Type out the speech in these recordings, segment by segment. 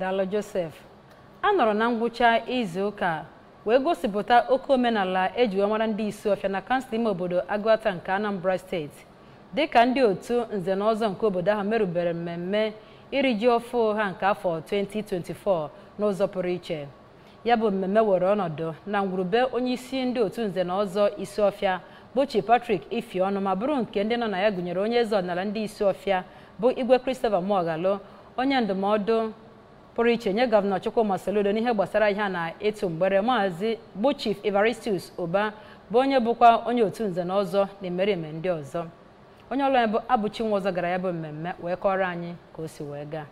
Daalụ Joseph. A nọrọ na ngwụcha izu ụka wee gosipụta oke omenala eji wee mara ndị Isuọfịa na kansụl ime obodo Agụata nke Anambra steeti dịka ndị otu nze na ọzọ nke obodo ahụ merubere mmemme iri ji ọfụ ha nke afọ 2024 n'ụzọ pụrụ iche. ya bụ mmemme were ọnọdụ na ngwurube onye isi ndị otu nze na ọzọ Isuọfịa bụ Chief Patrick Ifeọnụ ma bụrụ nke ndị nọ na ya gụnyere onye eze ọdịnala ndị Isuọfịa bụ Igwe Christopher Muoghalu onye ndụmọdụ pụrụ iche nye gọvanọ Chukwuma Soludo n'ihe gbasara ahịa na ịtụ mgbere maazị bụ Chief Evaristus Ụba bụ onye bụkwa onye otu nze na ọzọ na imerime ndị ọzọ onye ọlụ anyị bụ Abụchi Nwaọzọ gara ya bụ mmemme wee kọọrọ anyị ka o si wee gaa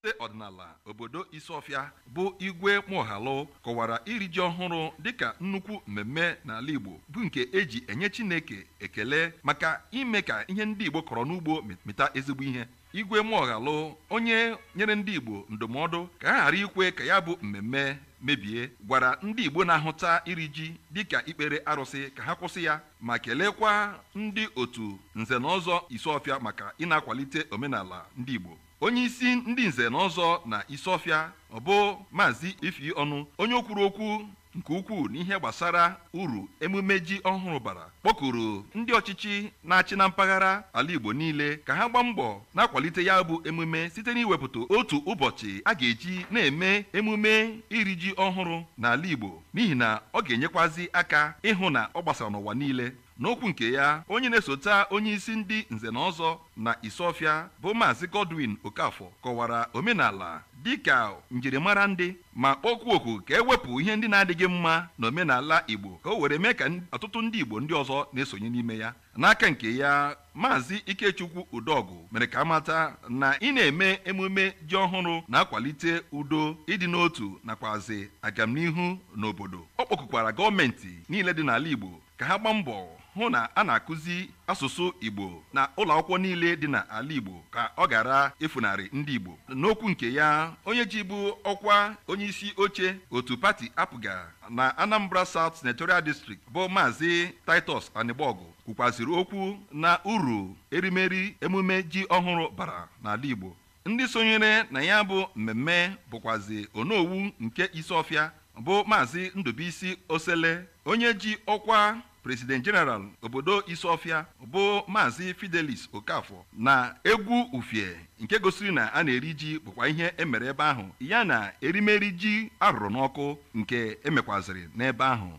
eze ọdịnala obodo Isuọfịa bụ Igwe Muoghalu kọwara iri ji ọhụrụ dịka nnukwu mmemme n'ala Igbo bụ nke eji enye Chineke ekele maka ime ka ihe ndị Igbo kọrọ n'ugbo mịta ezigbo ihe Igwe Muoghalu onye nyere ndị Igbo ndụmọdụ ka ha ghara ikwe ka ya bụ mmemme mebie gwara ndị Igbo na-ahụta iri ji dịka ikpere arụsị ka ha kwụsị ya ma kelekwa ndị otu Nze na Ọzọ Isuọfịa maka ị na-akwalite omenala ndị Igbo. Onyeisi ndị Nze na Ọzọ na Isuọfịa ọ bụ Maazị Ifeọnụ, onye o kwuru okwu nke ukwuu n'ihe gbasara uru emume ji ọhụrụ bara, kpọkuru ndị ọchịchị na-achị na mpaghara ala Igbo niile ka ha gbaa mbọ na-akwalite ya bụ emume site n'iwepụta otu ụbọchị a ga-eji na-eme emume iri ji ọhụrụ n'ala Igbo. n'ihi na ọ ga-enyekwazi aka ịhụ na ọ gbasara n'ụwa niile. N'okwu nke ya, onye na-esota onyeisi ndị Nze na Ọzọ na Isuọfịa bụ Maazị Godwin Okafor kọwara omenala dịka njirimara ndị ma kpọkwuo oku ka e wepụ ihe ndị na-adịghị mma n'omenala Igbo ka o were mee ka ọtụtụ ndị Igbo ndị ọzọ na-esonye n'ime ya. N'aka nke ya, Maazị Ikechukwu Udọgụ mere ka amata na ị na-eme emume ji ọhụrụ na-akwalite udo, ịdị n'otu nakwazi agamnihu n'obodo. Ọ kpọkukwara gọọmenti niile dị n'ala Igbo ka ha gbaa mbọ hụ na a na-akụzi asụsụ Igbo na ụlọakwụkwọ niile dị n'ala Igbo ka ọ ghara ifunarị ndị Igbo. N'okwu nke ya, onye jibu ọkwa onyeisi oche otu pati APGA na Anambra South Senatorial District bụ Maazị Titus Anịgbọgụ kwukwaziri okwu na uru erimeri emume ji ọhụrụ bara n'ala Igbo ndị sonyere na ya bụ mmemme bụkwazi onowu nke Isuọfịa bụ Maazị Ndubuisi Osele onye ji ọkwa President General obodo Isuọfịa bụ Maazị Fidelis Okafor na egwu ufie nke gosiri na a na-eri ji bụkwa ihe e mere ebe ahụ ya na erimeri ji arụrụ n'ọkụ nke emekwaziri n'ebe ahụ.